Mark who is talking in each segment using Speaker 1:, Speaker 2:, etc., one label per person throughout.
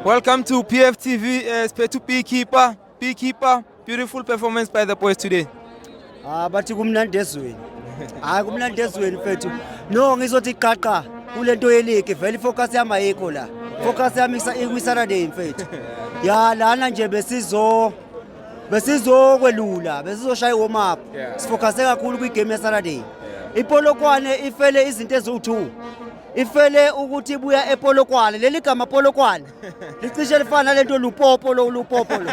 Speaker 1: Welcome to PFTV, uh, eh, Spare to Beekeeper. Beekeeper, beautiful performance by the boys today. Ah, bathi
Speaker 2: kumnandi ezweni. Hayi kumnandi ezweni mfethu. No, ngizothi qaqa kule nto yeligi vele ifocus yami ayikho la. Focus yami ikwi-Saturday mfethu. Ya lana nje besizo besizokwelula besizoshaya i-warm up sifocuse kakhulu kwi-game yesaturday ipolokwane ifele izinto eziwu-two ifele ukuthi ibuya epolokwane leli gama polokwane licishe lifana nalento lupopo lo lupopo lo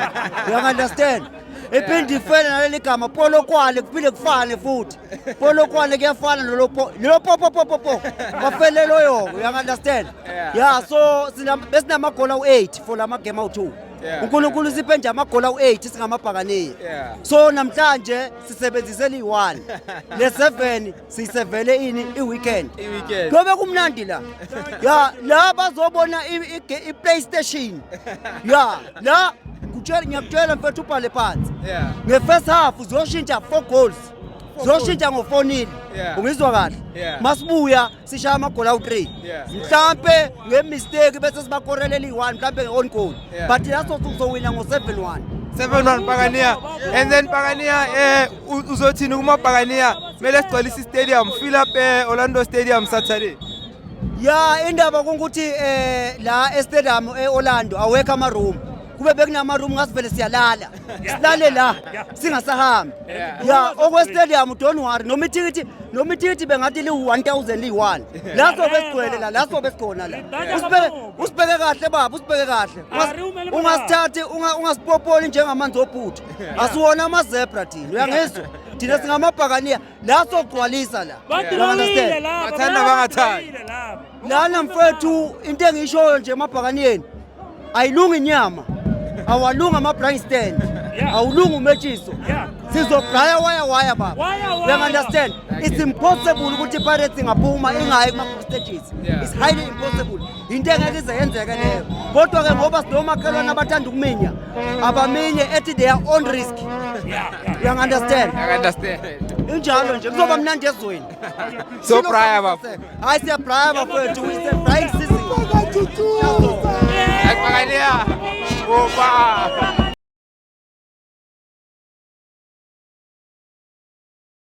Speaker 2: you understand iphinde ifele naleli gama polokwane kuphinde kufane futhi polokwane kuyafana nolopo lopopopopopo bafele loyo you understand yeah so besinamagona u8 for lama game awu2 uNkulunkulu siphe nje amagona u8 singamabhakaniya so namhlanje sisebenzise li1 le7 sisevele ini i-weekend I-weekend. kuyobe kumnandi la ya la bazobona i- i- i-playstation ya la kutshela- ngiyakutshela mfethu ubhale phansi Yeah. nge-first half ziyoshintsha four goals ziyoshintsha ngofonile Yeah. ungizwa kahle Yeah. masibuya sishaya amagoli awu-three Yeah. mhlampe ngemisteki bese sibakorelela iyi-one mhlampe nge-on goal Yeah. but laso sizowina ngo-seven one 7-1 Pagania.
Speaker 1: And then Pagania, eh, uzothini kumabhakaniya kumele sigcwalise istadium fill up eh, orlando stadium saturday ya
Speaker 2: indaba kungukuthi eh la estadium eorlando awekho amaroom kube bekunamaroom ngasivele siyalala silale la singasahambi ya okwestadium don't worry noma ithikithi noma ithikithi bengathi liwu-1000 liyi-one la sobe sigcwele la la sobe sikhona la usibheke kahle baba usibheke kahle ungasithathi ungasipopoli njengamanzi ophutha asiwona amazebra thina uyangizwa thina singamabhakaniya la sogcwalisa la bathanda
Speaker 1: bangathandi lana
Speaker 2: mfethu into engiyishoyo nje emabhakaniyeni ayilungi inyama awalungi ama-blind stand awulungi umetshiso sizogaya waya waya baba uyangunderstand it's impossible ukuthi ipirates ingaphuma ingayi kuma-stages it's highly impossible yinto engeke ize yenzeke leyo kodwa ke ngoba sinomakhelwane abathanda ukuminya abaminye ethi they are on risk uyangu-understand
Speaker 1: injalo nje
Speaker 2: kuzoba mnandi ezweni sobraya
Speaker 1: bafo hayi siyabraya
Speaker 2: bafowethu ise-brying
Speaker 1: season
Speaker 2: Bakalia. Opa!